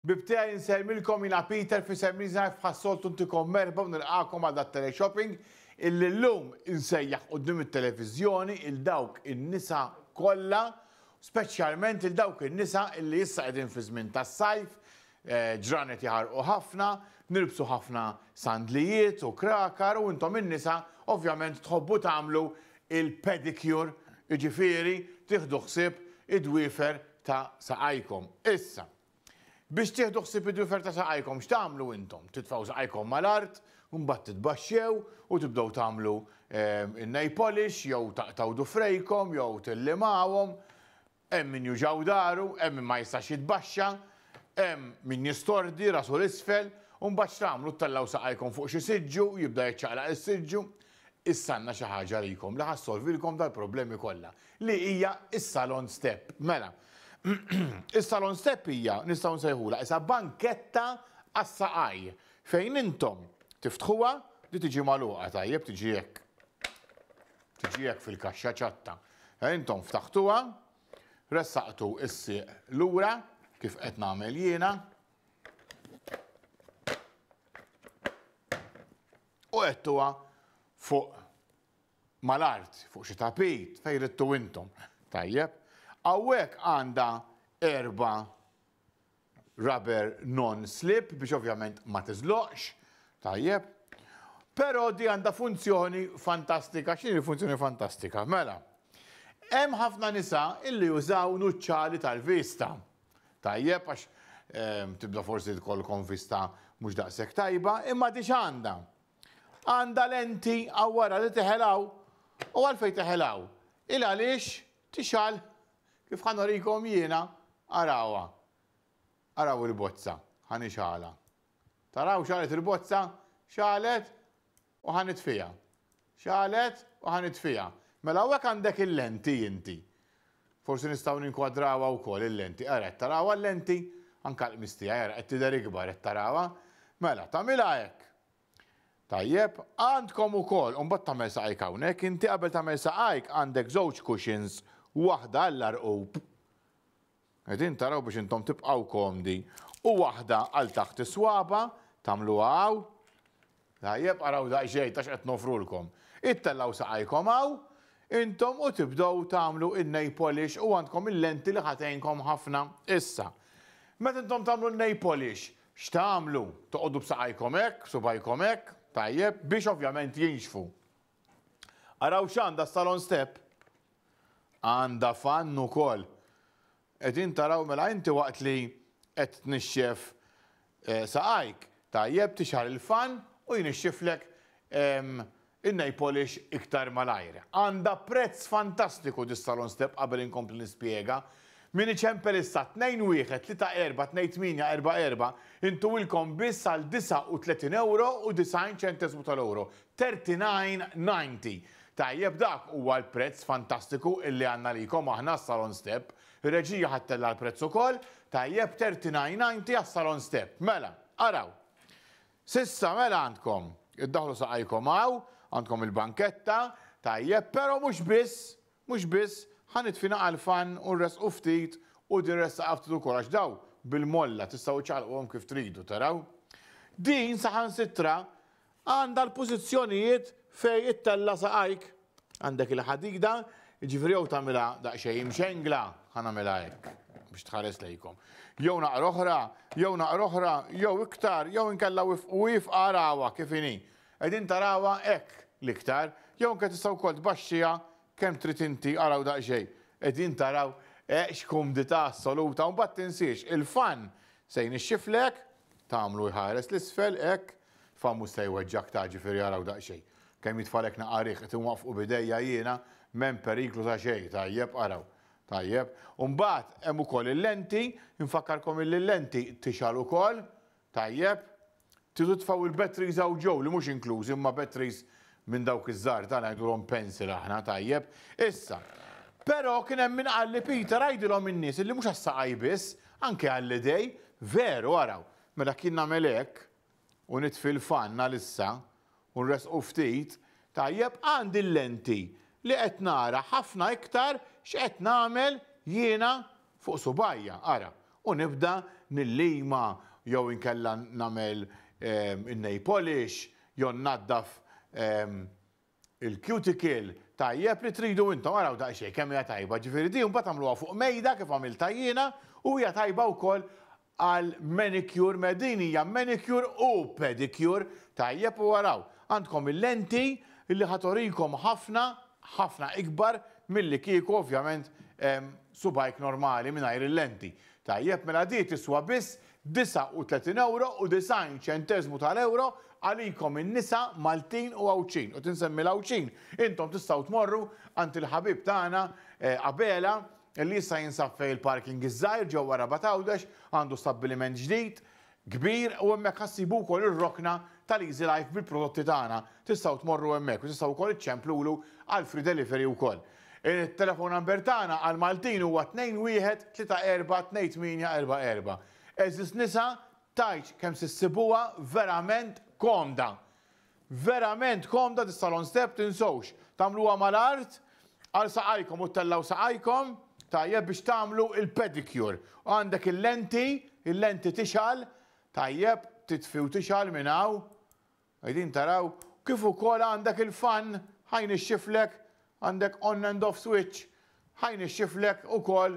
Ħbieb tiegħi insellmilkom jiena Peter f'isem Reasonlife bħas-soltu ntikom merħba u nilqagħkom għal dat-teleshopping illi llum insejjaħ quddiem it-televiżjoni il dawk in-nisa kollha speċjalment il dawk in-nisa illi issa qegħdin fi żmien tas-sajf, ġranet jaħarqu ħafna, nilbsu ħafna sandlijiet u krakar u intom in-nisa ovvjament tħobbu tagħmlu il-pedicure jiġifieri tieħdu ħsieb id-dwiefer ta' saqajkom. Issa. Biex tieħdu ħsieb id-dwifer ta' saqajkom, x'tagħmlu intom? Titfgħu saqajkom mal-art, imbagħad titbaxxew u tibdew tagħmlu in-nail polish jew taqtgħu dufrejkom jew tillimawhom. Hemm min juġaw daru, hemm min ma jistax jitbaxxa, hemm min jistordi rasu 'l isfel, u mbagħad x'tagħmlu ttellgħu saqajkom fuq xi siġġu, jibda jiċċaqlaq is-siġġu. Issa għandna xi ħaġa għalikom li ħa ssolvilkom dal-problemi kollha, li hija s-salon step. Mela, is-salon step hija, nistgħu nsejħulha, isa banketta għas-saqaj, fejn intom tiftħuha, di tiġi magħluqa tajjeb, tiġi hekk. Tiġi hekk fil-kaxxa ċatta. Eh, intom ftaħtuha, ressaqtu s-sieq lura, kif qed nagħmel jiena. u għedtuha fuq mal-art, fuq xi tapit, fejn ridtu intom. Tajjeb. Hawnhekk għandha erba' rubber non-slip biex ovvjament ma tiżloqx. Tajjeb. Però di għandha funzjoni fantastika. X'inhi l-funzjoni fantastika? Mela, hemm ħafna nisa illi jużaw nuċċali tal-vista. Tajjeb għax tibda forsi tkollkom vista mhux daqshekk tajba, imma di x'għandha? Għandha lenti hawn wara li teħelgħu u għalfejn teħelgħu? Il għaliex tixgħal kif ħa norikom jiena arawha. Araw il-bozza, ħa nixgħalha. Taraw x'għalet il-bozza? X'għalet? u ħa nitfiha. X'għalet u ħa nitfiha. Mela hawnhekk għandek il-lenti inti. Forsi nistgħu ninkwadrawha wkoll il-lenti. Ara qed tarawha l-lenti? Anke l-qmis tiegħi ara qed tidher ikbar qed tarawha? Mela tagħmilha hekk. Tajjeb, għandkom ukoll, u mbagħad tagħmel saqajk hawnhekk, inti qabel tagħmel saqajk għandek żewġ cushions, waħda għall-għarqub, Qegħdin taraw biex intom tibqgħu komdi. U waħda għal taħt is-swaba, tagħmluha hawn. Tajjeb, araw daqsxejn ta' x'qed nofrulkom. Ittellgħu saqajkom hawn, intom u tibdew tagħmlu in-nail polish u għandkom il-lenti li ħa tgħinkom ħafna. Issa, meta intom tagħmlu n-nail polish, x'tagħmlu? Toqogħdu b'saqajkom hekk, b'subgħajkom hekk, tajjeb, biex ovvjament jinxfu. Araw x'għandha s-salon step! Għandha fann ukoll! Qegħdin taraw mela inti waqt li qed tnixxef saqajk tajjeb tixgħal il-fann u jnixxiflek in-nail polish iktar malajr. Għandha prezz fantastiku dis-salon step qabel inkompli nispjega. Min iċempel issa 2-1-3-4-2-8-4-4 intuwilkom biss għal 39 ewro u 90 ċentesmu tal-ewro. 39.90 Tajjeb dak huwa l-prezz fantastiku illi għandna għalikom aħna s-salon step. Ir-reġija ħa ttella' l-prezz ukoll, tajjeb 39.90 għas-salon step. Mela, araw. S'issa mela għandkom, iddaħħlu saqajkom hawn, għandkom il-banketta, tajjeb, però mhux biss, mhux biss, ħa nitfi naqgħa l-fan u nressqu ftit u din ressaqha ftit ukoll għax dawn bil-molla tistgħu ċċaqalquhom kif tridu, taraw. Din saħansitra Għandha l-pożizzjonijiet fejn ittella' saqajk. Għandek il-ħadida, jiġifieri jew tagħmilha daqsxejn imxengla, ħa nagħmilha hekk biex tħares lejkom, jew naqra oħra, jew naqra oħra, jew iktar, jew inkella wifqu iefqha arawha kif inhi. Qegħdin tarawha hekk l-iktar, jew anke tista' wkoll tbaxxiha Kemm trid inti, araw daqsxejn. Qegħdin taraw, eħ x'kumdità assoluta u mbagħad tinsiex il-fan se jnixxiflek, tagħmlu jħares 'l isfel, hekk, fan mhux se jweġġgħek ta' ġifieri araw daqsxejn. Kemm jitfalek naqqa' riħ, qed inwaqqfu b'idejja jiena, m'hemm periklu ta' xejn, tajjeb, araw. Tajjeb. U mbagħad hemm ukoll il-lenti, infakkarkom illi l-lenti tixgħal ukoll, Tajjeb. Tridu tfgħu il-batteries hawn ġew li mhux inklużi huma batteries minn dawk iż-żgħar tagħna ngħidulhom pencil aħna, tajjeb. Issa, Però kien hemm min qal li Peter għidilhom in-nies illi mhux għas-saqajn biss, anke għall-idej, veru araw, mela kien nagħmel hekk u nitfi l-fann għalissa u nressqu ftit, tajjeb għandi l-lenti li qed nara ħafna iktar x'qed nagħmel jiena fuq subgħajja, ara, u nibda nillima jew inkella nagħmel in-nail polish jew nnaddaf il-cuticle, tajjeb li tridu intom, araw daqsxejn kemm hija tajba, ġifieri din imbagħad tagħmluha fuq mejda kif għamiltha jiena u hija tajba wkoll Għal manicure me din hija manicure u pedicure tajjeb u araw għandkom il-lenti li ħa turikom ħafna ħafna ikbar milli kieku ovvjament subgħajk normali mingħajr il-lenti tajjeb mela di tiswa biss 39 ewro u 90 ċenteżmu tal-ewro għalikom in-nisa Maltin u Għawdxin u tinsemmi l-Għawdxin intom tistgħu tmorru għand il-ħabib tagħna Abela li issa jinsab fejn il-parking iż-żgħir ġewwa Rabat Għawdex, għandu stabbiliment ġdid, kbir u hemmhekk ħa ssibu wkoll ir-rokna tal-Easy Life bil-prodotti tagħna. Tistgħu tmorru hemmhekk u tistgħu wkoll iċċemplulu għal free delivery wkoll. It-telephone number tagħna għal Maltin huwa 21342844. Għeżież nisa, tgħidx kemm se ssibuha verament komda! Verament komda dis-salon step tinsewx tagħmluha mal-art għal saqajkom u ttellgħu saqajkom tajjeb biex tagħmlu l-pedicure u għandek il-lenti, il-lenti tixgħal tajjeb titfi u tixgħal minn hawn qegħdin taraw kif ukoll għandek il-fan ħa jnixxiflek Għandek on and off switch, ħa jnixxiflek ukoll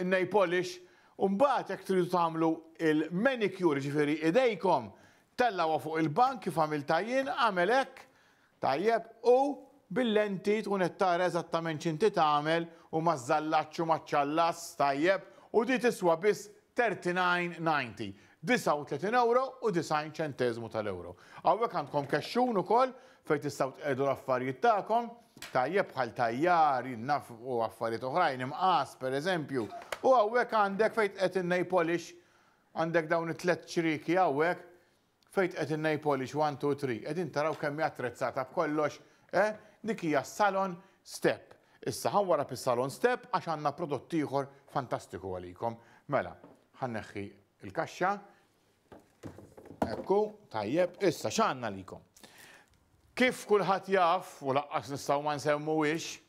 in-nail polish u mbagħad jekk tridu tagħmlu l-manicure, jiġifieri idejkom, tellgħuha fuq il-bank kif għamiltha jien, agħmel hekk, tajjeb, u bil-lenti tkun qed tara eżattament x'inti tagħmel u maż-żallaċċ u maċ-ċallas, tajjeb, u di tiswa biss 39.90. 39 ewro u 90 ċenteżmu tal-ewro. Hawnhekk għandkom kexxun ukoll fejn tistgħu tqiegħdu l-affarijiet tagħkom, tajjeb bħal tajjar, jien naf u affarijiet oħrajn, imqas pereżempju, u hawnhekk għandek fejn tqiegħed in-nail polish, għandek dawn it-tliet ċrieki hawnhekk fejn tqiegħed in-nail polish one, two, three. Qegħdin taraw kemm hi attrezzata b'kollox, eh? Dik hija s-salon step. Issa ħa wara fis-salon step għax għandna prodott ieħor fantastiku għalikom. Mela, Ħa nneħħi l-kaxxa. Ekku, tajjeb, issa x'għandna likom. Kif kulħadd jaf u laqqas nistgħu ma nsemmuwiex,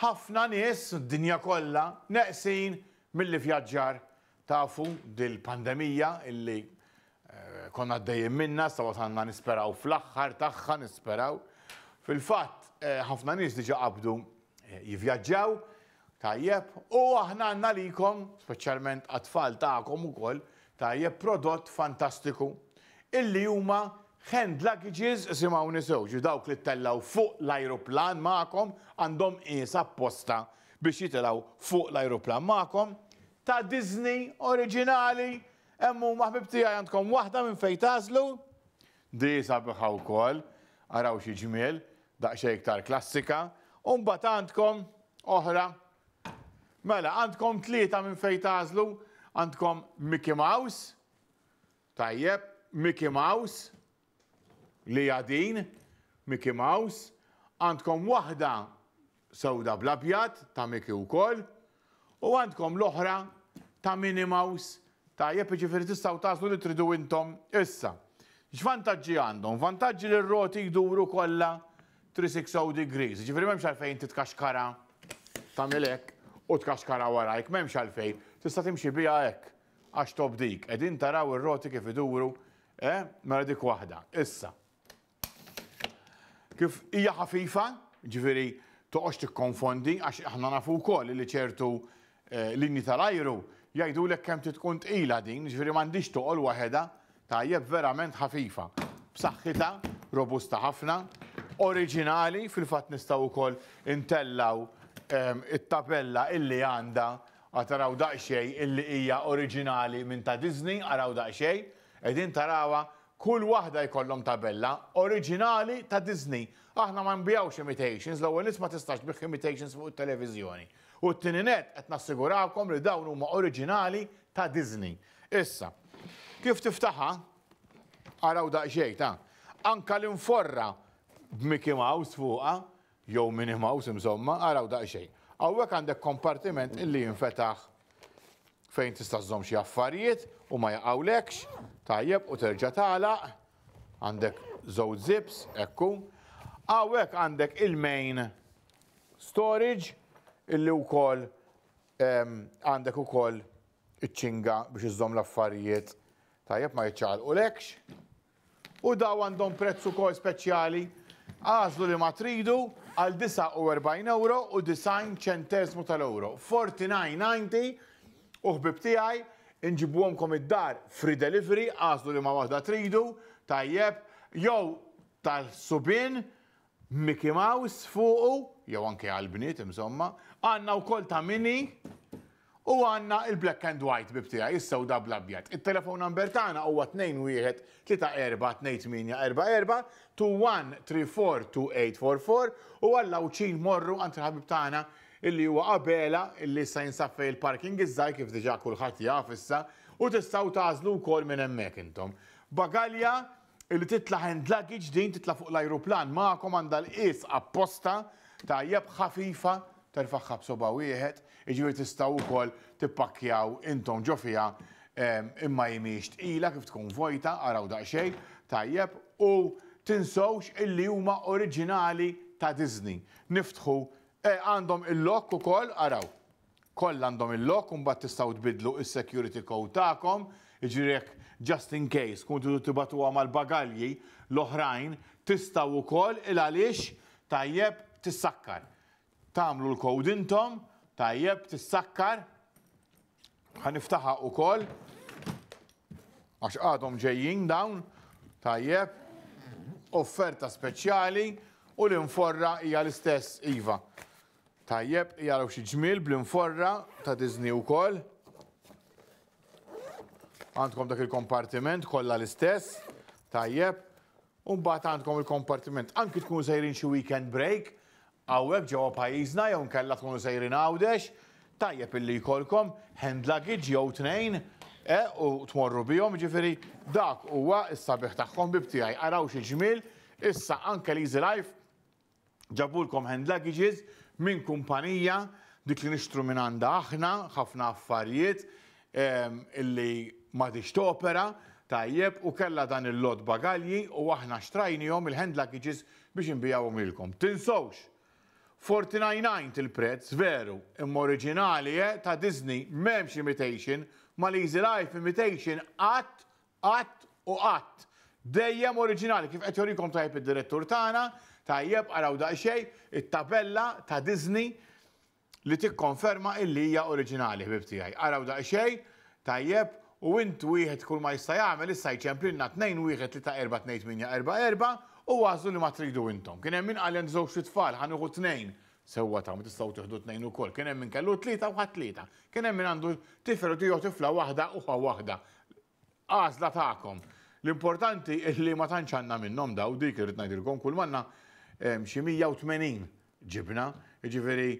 ħafna nies d-dinja kollha neqsin milli vjaġġar tafu dil-pandemija illi eh, konna għaddejjin minna, sa wasanna nisperaw fl-aħħar tagħha nisperaw. Fil-fatt eh, ħafna nies diġa qabdu eh, jivjaġġaw, Tajjeb, u aħna għandna għalikom, speċjalment għat-tfal tagħkom ukoll, tajjeb, prodott fantastiku, illi huma hand luggages, isimgħuni sew, jiġifieri dawk li ttellgħu fuq l-ajruplan magħkom, għandhom qies apposta biex jitilgħu fuq l-ajruplan magħkom, ta' Disney, oriġinali, hemm huma ħbieb tiegħi għandkom waħda minn fejn tagħżlu, di sabiħa wkoll, araw xi ġmiel, Daqsxejn iktar klassika. U mbagħad għandkom oħra. Mela, għandkom tlieta minn fejn tagħżlu. Għandkom Mickey Mouse. Tajjeb, Mickey Mouse. Li hija din, Mickey Mouse. Għandkom waħda sewda bl-abjad ta' Mickey wkoll u għandkom l-oħra ta' Minnie Mouse tajjeb jiġifieri tistgħu tagħżlu li tridu intom issa. X'vantaġġi għandhom? Vantaġġi li r-roti jduru kollha 360 degrees, jiġifieri m'hemmx għalfejn inti tkaxkara tagħmel hekk u tkaxkara warajk, m'hemmx għalfejn, tista' timxi biha hekk għax tobdik. Qegħdin taraw ir-roti kif iduru? Eh? Mela dik waħda. Issa. Kif hija ħafifa, jiġifieri toqgħodx tikkonfondi għax aħna nafu wkoll li ċertu linji tal-ajru jgħidulek kemm trid tkun tqila din, jiġifieri m'għandhiex toqol waħedha, tajjeb verament ħafifa, b'saħħitha, robusta ħafna, oriġinali, fil-fatt nistgħu wkoll intellgħu it-tabella illi għandha, ara taraw daqsxejn illi hija oriġinali minn ta' Disney, araw daqsxejn, qegħdin tarawha Kull waħda jkollhom tabella oriġinali ta' Disney. Aħna ma nbigħux imitations, l-ewwel nett ma tistax tbigħ imitations fuq it-televiżjoni. U t-tieni nett qed nassigurakom li dawn huma oriġinali ta' Disney. Issa, kif tiftaħha, araw daqsxejn, ta, anke l-inforra b'Mickey Mouse fuqha, jew Minnie Mouse imżomma, araw daqsxejn. Hawnhekk għandek kompartiment li jinfetaħ fejn tista' żżomm xi affarijiet u ma jaqgħulekx, tajjeb, u terġa' tagħlaq. Għandek żewġ zips, ekku. Hawnhekk għandek il-main storage illi wkoll ehm, għandek ukoll iċ-ċinga biex iżżomm l-affarijiet tajjeb ma jiċċaqalqulekx. U dawn għandhom prezz ukoll speċjali, għażlu liema tridu, għal 49 ewro u 90 ċenteżmu tal-ewro. 49.90 u ħbieb tiegħi nġibuhomkom id-dar free delivery, għażlu liema waħda tridu, tajjeb, jew tal-subien, Mickey Mouse fuqu, jew anke għall-bniet insomma, għandna wkoll ta' Minnie u għandna il-black and white bieb tiegħi, is-sewda bl-abjad. It-telephone number tagħna huwa 213438844 to 1342844 u għall-Għawdxin morru għand il-ħabib tagħna illi huwa Abela illi issa jinsab fejn il-parking iż-żgħir kif diġà kulħadd jaf issa u tistgħu tagħżlu wkoll minn hemmhekk intom. Bagalja Illi titla' hand luggage din titla' fuq l-ajruplan magħkom għandha l-qies apposta tajjeb ħafifa terfagħha b'sobgħa wieħed, jiġifieri tistgħu wkoll tippakkjaw intom ġo fiha imma hi mhijiex tqila kif tkun vojta, araw daqsxejn, tajjeb, u tinsewx illi huma oriġinali ta' Disney. Niftħu, eh għandhom il-lock ukoll, araw. Kollha għandhom il-lock u mbagħad tistgħu tbiddlu is-security code tagħkom, jiġifieri jekk just in case tkunu tridu tibagħtuha mal-bagalji l-oħrajn tistgħu wkoll il għaliex tajjeb tissakkar. Tagħmlu l-code intom, tajjeb tissakkar. Ħa niftaħha wkoll għax għadhom ġejjin dawn, tajjeb, offerta speċjali u l-inforra hija l-istess iva. Tajjeb, jaraw xi ġmiel bl-inforra ta' Disney wkoll. Għandkom dak il-kompartiment kollha l-istess. Tajjeb. U mbagħad għandkom il-kompartiment. Anki tkunu sejrin xi weekend break, hawnhekk ġewwa pajjiżna jew nkella tkunu sejrin Għawdex, tajjeb illi jkollkom hand luggage jew tnejn eh, u tmorru bihom, ġifieri dak huwa s-sabiħ tagħhom bib tiegħi. Araw xi ġmiel, issa anke l-Easy Life Ġabulkom hand luggages minn kumpanija dik li nixtru mingħandha aħna, ħafna affarijiet illi m'għadhiex topera tajjeb u kellha dan il-lott bagalji u aħna xtrajniehom il-hand luggages biex inbigħuhom lilkom. Tinsewx! Forty nine nine il-prezz, veru, imma oriġinali eh ta' Disney, m'hemmx imitation, Maleezy Life imitation qatt Qatt u qatt. Dejjem oriġinali, kif qed jorikom tajjeb id-direttur tagħna, tajjeb, araw daqsxejn, it-tabella ta' Disney li tikkonferma illi hija oriġinali, ħbieb tiegħi. Araw daqsxejn, tajjeb, u int wieħed kull ma jista' jagħmel issa jċemplilna 2-1-3-4-2-8-4-4 u għażlu liema tridu intom. Kien hemm min qal li għandi żewġt-itfal, ħa nieħu tnejn, Sewwa tagħmlu, tistgħu tieħdu tnejn ukoll. Kien hemm min kellu tlieta u ħa tlieta. Kien hemm min għandu tifel u tiegħu tifla waħda u ħa waħda. Għażla tagħkom. L-importanti li ma tantx għandna minnhom daw dik irrid ngħidilkom kull manna xi 180 ġibna. Jiġifieri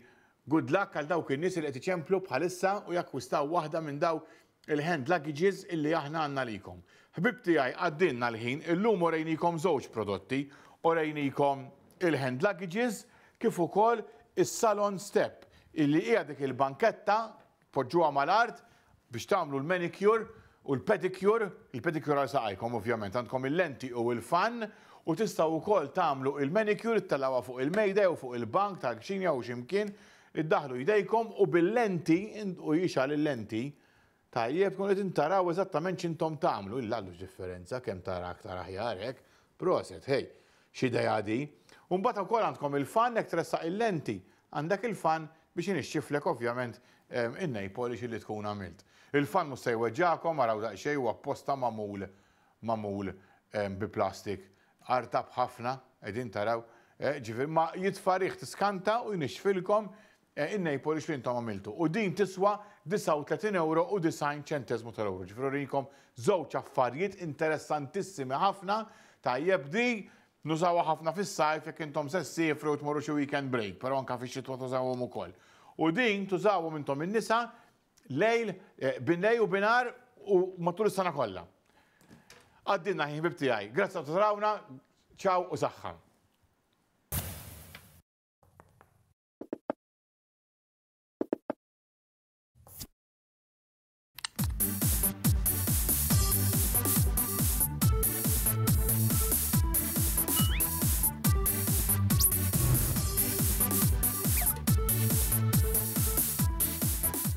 good luck għal dawk in-nies li qed iċemplu bħalissa u jakkwistaw waħda minn daw il-hand luggages illi aħna għandna għalikom. Ħbieb tiegħi għaddielna l-ħin, illum urejniekom żewġ prodotti, urejniekom il-hand luggages kif ukoll is-salon step illi hija dik il-banketta tpoġġuha mal-art biex tagħmlu l-manicure u l-pedicure, il-pedicure għal saqajkom ovvjament, għandkom il-lenti u l-fan u tistgħu wkoll tagħmlu il-manicure ittellgħuha fuq il-mejda jew fuq il-bank tal-kċina jew xi mkien Iddaħħlu jdejkom u bil-lenti, u jixgħal il-lenti, tajjeb, tkunu qegħdin taraw eżattament x'intom tagħmlu, illa għandu x'differenza, kemm tara aktar aħjar hekk, proset, hej, x'idea di. U mbagħad ukoll għandkom il-fan jekk tressaq il-lenti, għandek il-fan biex inixxiflek ovvjament in-nail polish li tkun għamilt. Il-fan mhux se jweġġagħkom, araw daqsxejn, huwa apposta magħmul magħmul bi plastik Artab ħafna, qegħdin taraw, eh, ġifieri ma jitfa' riħ tiskanta u jnixxfilkom eh, in-nail polish li intom għamiltu. U din tiswa 39 ewro u 90 ċenteżmu tal-ewro. Ġifieri urikom żewġ affarijiet interessantissimi ħafna, tajjeb di nużawha ħafna fis-sajf jekk intom se ssifru u tmorru xi weekend break, però anke fix-xitwa tużawhom ukoll. U din tużawhom intom in-nisa Lejl, binlejl u binhar u matul is-sena kollha. Għaddilna ħin ħbib tiegħi. Grazzi ta' tarawna, ċaw u saħħa.